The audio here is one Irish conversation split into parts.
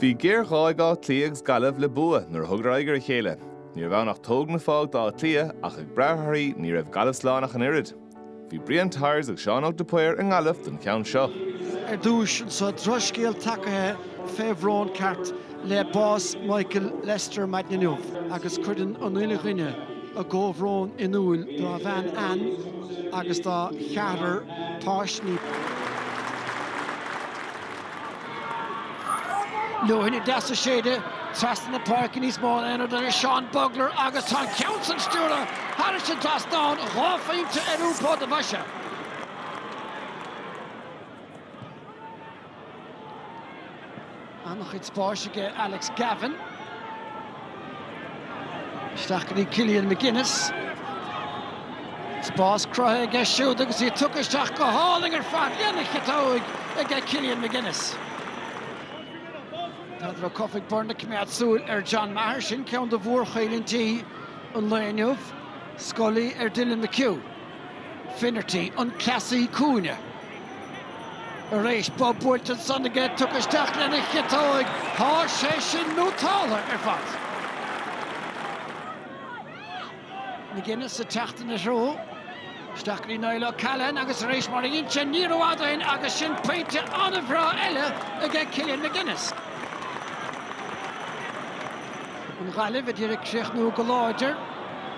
Bhí géar-ghá ag Áth Cliath agus Gaillimh le bua nuair a thugadar aghaidh ar a chéile. Ní raibh ann ach tóg nó fág d'Áth Cliath ach ag brath ar thorthaí ní raibh Gaillimh slán ach an oiread. Bhí Brian Tyers agus Seán Óg de Paor i nGaillimh don cheann seo. Ar dtúis anso, drochscéal tagaithe fé bhrón ceart le bás Michael Lyster maidin inniu agus cuireann an uile dhuine a gcomhbhrón in iúil dá bhean Anne agus dá cheathrar, páistí. Leoithne deas ag séideadh trasna na páirce níos mó ná aon rud eile. Seán Bugler agus tá an ceann san stiúrtha thairis an dtrasnán. Dhá phointe ar Iúbh Port a Mhaise. An-chuid spáis aige Alex Gavin. Isteach go dtí Killian McGinnis. Spás cruthaithe aige siúd agus é tugtha isteach go hálainn ar fad. Lena chiotóig aige Killian McGinnis. Peadar Ó Cofaigh Byrne ag coimeád súil ar John Maher. Sin ceann de mhórchoimhlintí an lae inniu. Scully ar Dylan McHugh. Finnerty, an cleasaí cúinne. Tar éis bob buailte ansan aige tugtha isteach lena chiotóig, thá sé sin nótáltha ar fad. McGinnis ag teacht ina threo. Isteach go dtí Niall O'Callaghan agus arís mar a dhein sé ní rófhada ó shin agus sin pointe an-bhreá eile aige Killian McGinnis. An Ghaillimh a d'iarraidh críochnú go láidir.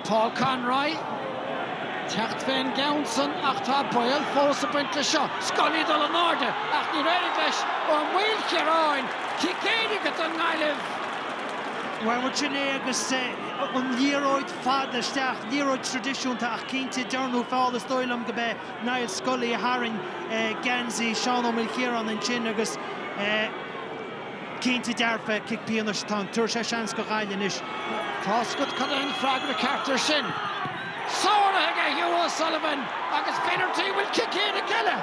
Paul Conroy ag teacht fén gceann san ach tá baol fós ag baint leis seo. Scully ag dul in airde ach níor éirigh leis Ó Maoilchiaráin. Cic éirice don nGaillimh. Bhuel sin é agus an liathróid fada isteach. Liathróid tradisiúnta ach cinnte dearnadh feall. Is dóigh liom go b'é Niall Scully a tharraing geansaí Seán Ó Maoilchiaráin ansin agus Cinnte dearfa, cic pionais atá ann. Tabharfaidh sé seans do Ghaillimh anois. Tá a fhios agat cad é an freagra ceart ar sin. Sáraithe aige Hugh O'Sullivan agus Finnerty, bhfuil cic éirice eile?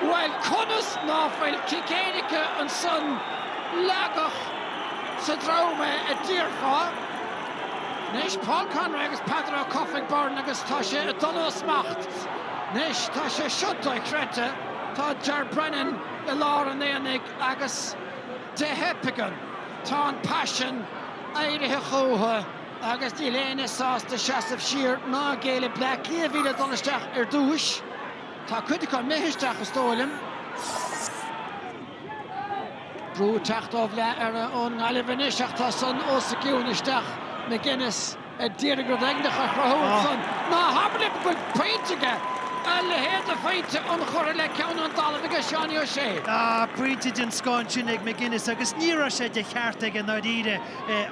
Bhuel conas ná fuil cic éirice ansan leagadh sa drom é a déarfá? Anois Paul Conroy agus Peadar Ó Cofaigh Byrne agus tá sé ag dul ó smacht. Anois tá sé seo doichreidte tá Ger Brennan, i lár an aonaigh agus de thapaigean tá an paisean éirithe chútha agus níl éinne sásta seasamh siar ná géilleadh. Bleá Cliath a bhí le dul isteach ar dtúis. Tá cuid acu imithe isteach is dóigh liom. Brú ag teacht ó Bhleá Air ón nGaillimh anois ach tá san os a gcionn isteach, McGinnis. a d'iarraidh rud éigineach a chruthú ansan. Ná habair liom go bhfuil pointe aige a leithéid de phointe ionchurtha le ceann ón dtalamh aige Seánie Ó Sé. Yeah, pointe den scoth sin ag McGinnis agus ní raibh sé de cheart aige i ndáiríre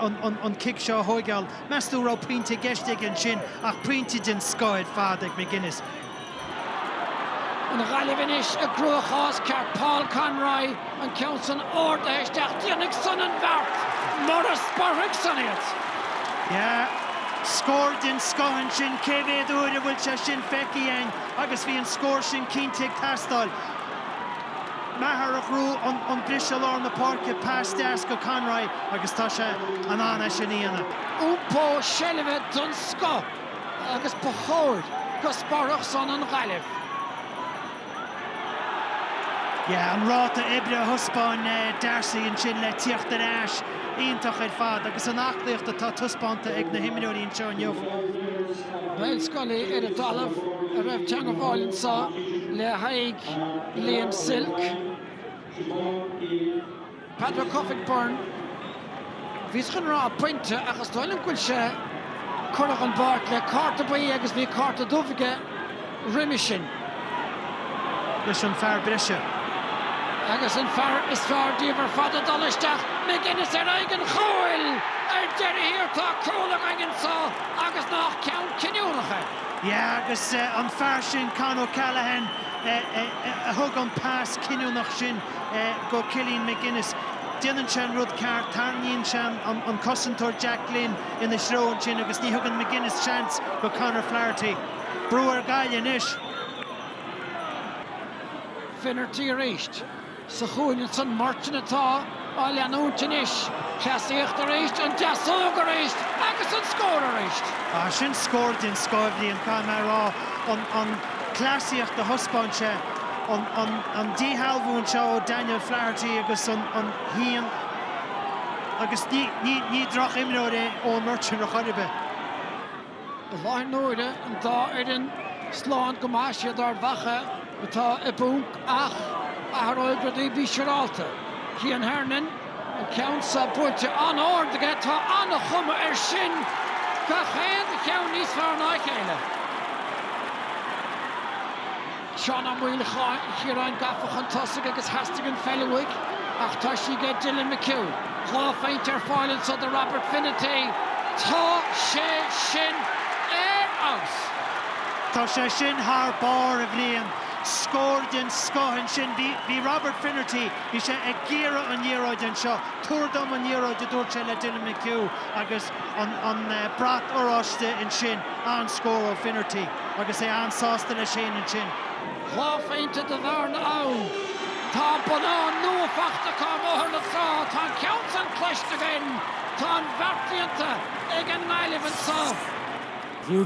an cic seo a thóigeáil. Meastú raibh pointe i gceist aige ansin ach pointe den scoth ar fad ag McGinnis. An Ghaillimh anois i gcruachás ceart, Paul Conroy an ceann san ardaithe isteach, déanfaidh san an bheart mura sporfaidh san iad. Yeah, scór den scoth ansin, cé mhéad uair a bhfuil sé sin feicthe a'inn agus bhí an scór sin cinnte ag teastáil. Maher a chruthaigh an briseadh lár na páirce, pas deas go Conroy agus tá sé in ann é sin a dhéanamh. Iompó seilbhe den scoth. agus ba chóir go sporfadh san an Ghaillimh. Yeah, an ráta oibre a thaispeáin Darcy ansin le tíocht ar ais, iontach ar fad. Agus an aclaíocht atá taispeánta ag na himreoirí anseo inniu. Niall Scully ar an dtalamh an raibh teangmháil anso le haghaidh Liam Silke. Peadar Ó Cofaigh Byrne, Bhíos chun rá pointe ach is dóigh liom go bhfuil sé curtha ón bpáirc le cárta buí agus bhí cárta dubh aige roimis sin. leis an fear breise. Agus an fear is fearr díobh ar fad ag dul isteach, McGinnis ar aghaidh an chúil! Ar deireadh thiar tá cúl againn anso agus nách ceann cinniúnach é. Yeah agus an fear sin Con O'Callaghan a thug an pas cinniúnach sin. go Killian McGinnis. Déanann sé an rud ceart, tarraingíonn sé an cosantóir Jack Glynn ina threo ansin agus ní thugann McGinnis seans go Conor Flaherty. Brú ar Gaillimh anois. Finnerty arís. Sa chúinne ansin, Murchan atá á leanúint anois. Cleasaíocht arís, an deasóg arís agus an scór arís! Sin scór den scoth a bhí ann, caithfidh mé a rá. cleasaíocht a thaispeáin sé, an díshealbhú anseo ó Daniel Flaherty agus an Shín agus ní droch-imreoir é Eoin Murchan ar chor ar bith. I láthair na huaire, an dá fhoireann slán go maith, siad Ard Mhacha atá i bponc ach athróidh rudaí. Bí siúrálta. Cian Hernon. An ceann seo buailte an-árd aige. Tá an-chuma ar sin. Gach aon cheann níos fearr ná a chéile. Seán Ó Maoilchiaráin gafa chun tosaigh agus theastaigh an pheil uaidh ach tá sí aige Dylan McHugh. Dhá phointe ar fáil anso do Robert Finnerty. Tá sé sin ar fheabhas! Tá sé sin thar barr a Bhriain. Scór den scoth ansin. Bhí Robert Finnerty. Bhí sé ag iarraidh an liathróid anseo. Tabhair dom an liathróid, a dúirt sé le Dylan McHugh agus an brat oráiste ansin. An-scór ó Finnerty agus é an-sásta leis fhéin ansin. Dhá phointe de bhearna ann. Tá bonnán nua faighte ag Bóthar na Trá. Tá an ceann sin cloiste againn. Tá an bhearna líonta ag an nGaillimh anso. Hugh